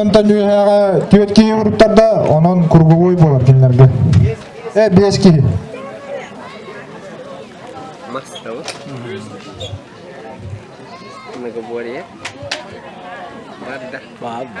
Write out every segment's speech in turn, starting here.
Онтон үөһэҕэ түөрт киһи уруттарда, онон круговой болар кинилэргэ. Э, бес киһи. Мастова. Многоборье. Барда. Баба.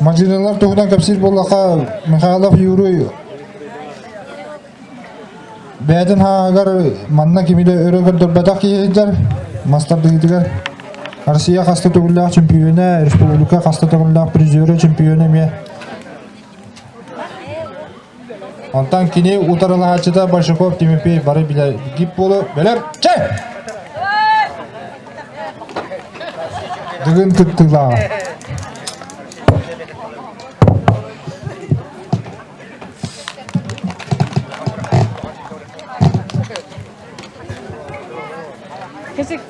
Мандьыналар туһунан кэпсиир буоллахха, Михайлов Юрий бэйэтин хааһыгар манна кимилэ өрө көрдөрбөтөх киһи сылдьар. Мас тардыһыытыгар Россия хаста төгүллээх чемпиона, республика хаста төгүллээх призера, чемпиона эмиэ Онтон кини утарылаһааччыта Большаков Тимофей бары билэргит буолуо бэлэр чэ Дыгын кыттыылааҕа Кэсик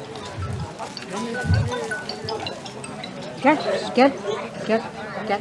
Gel, gel, gel, gel.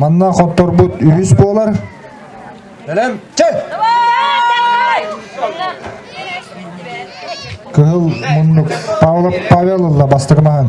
Манна хотторбут үһүс буолар. Кыһыл муннук Павла Павеловла бастыгы маһын.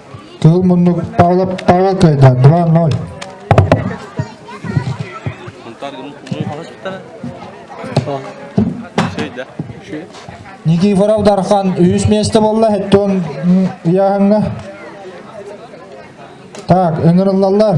Тыл муннук Павла Павла кайда 2-0. Никифоров Дархан үс месте болла хеттон яханга. Так, ыңырыллалар.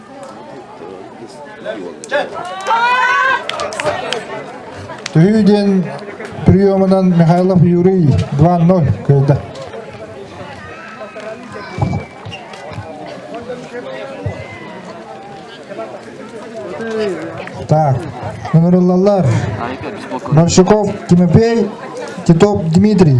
Туйуу диэн приемунан Михайлов Юрий 2-0 кыайда. Так, Нуруллалар, Морщуков Тимофей, Титов Дмитрий.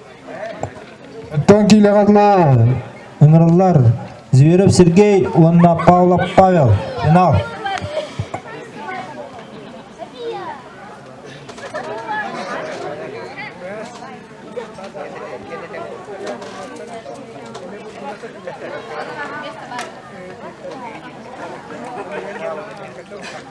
Оттон киилэҕэ ыҥырыллар Зверев Сергей уонна Павлов Павел финал. Thank you.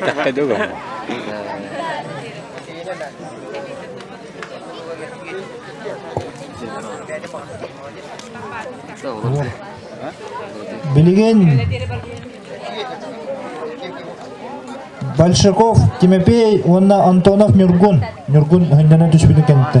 Такка дуга. Билигин Большаков Тимофей уонна Антонов Нюргун. Нюргун өһүннэнэн түспүтүн кэннитэ.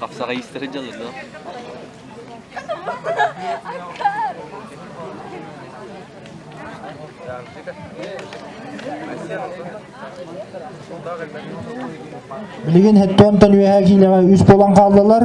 Хапсаҕай истэрэ дьалырлар. Билигин Һэттоонтон үөһээ киинэҕэ үс буолан хааллылар.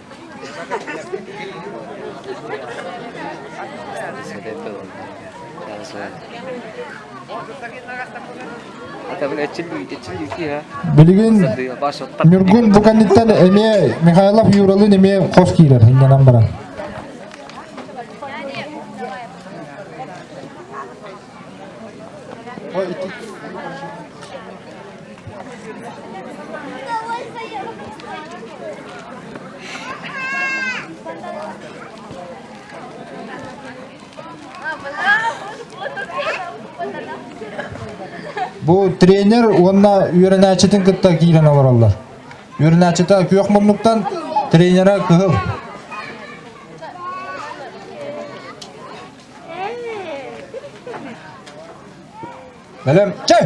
Билигин Ньургун бу кэнниттэн эмиэ Михайлов Юралыын эмиэ хос киирэр иннэнэн баран. Бу тренер уонна үөрэнээччитин кытта киирэн олороллор. Үөрэнээччитэ күөх муннуктан, тренера кыһыл. Бэлэм, чэй!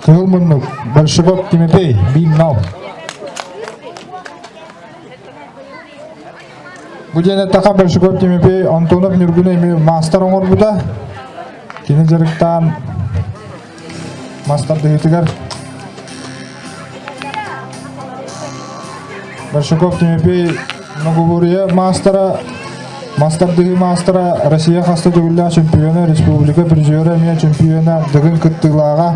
Кылманов, Большевок Тимофей, Биннал. Бу диэн эттэхэ Большевок Тимофей Антонов Ньургуна эмиэ маастар оҥорбута. Кини дьарыктаан Мас тардыһыытыгар Борщаков Тимофей многобурье маастара, мас тардыһыы маастара, Россия хас да төгүллээх чемпиона, республика призера эмиэ чемпиона, Дыгын кыттыылааҕа.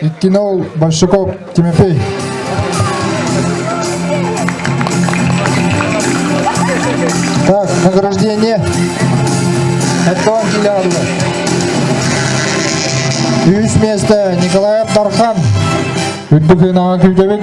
Иккинол Большаков Тимофей. Так, награждение от Килярова. Үс место Николай Дархан. Үрдүк ынаҕа күүтэбит.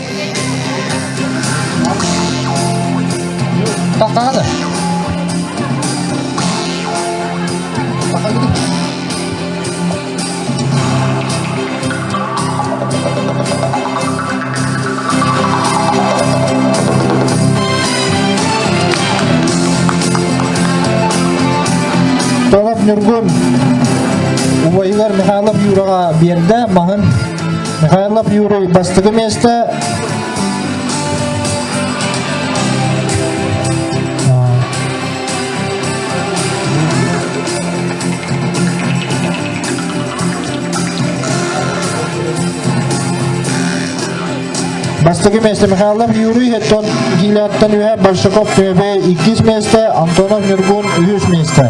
Tatada. Толоп Ньургун убайыгар Михайлов Юраҕа биэрдэ маһын Михайлов Юрий бастакы место. Бастакы место Михайлов Юрий, Хеттон Гиляттан үһэ, Большаков Төбе иккис место, Антонов Нюргун үһүс место.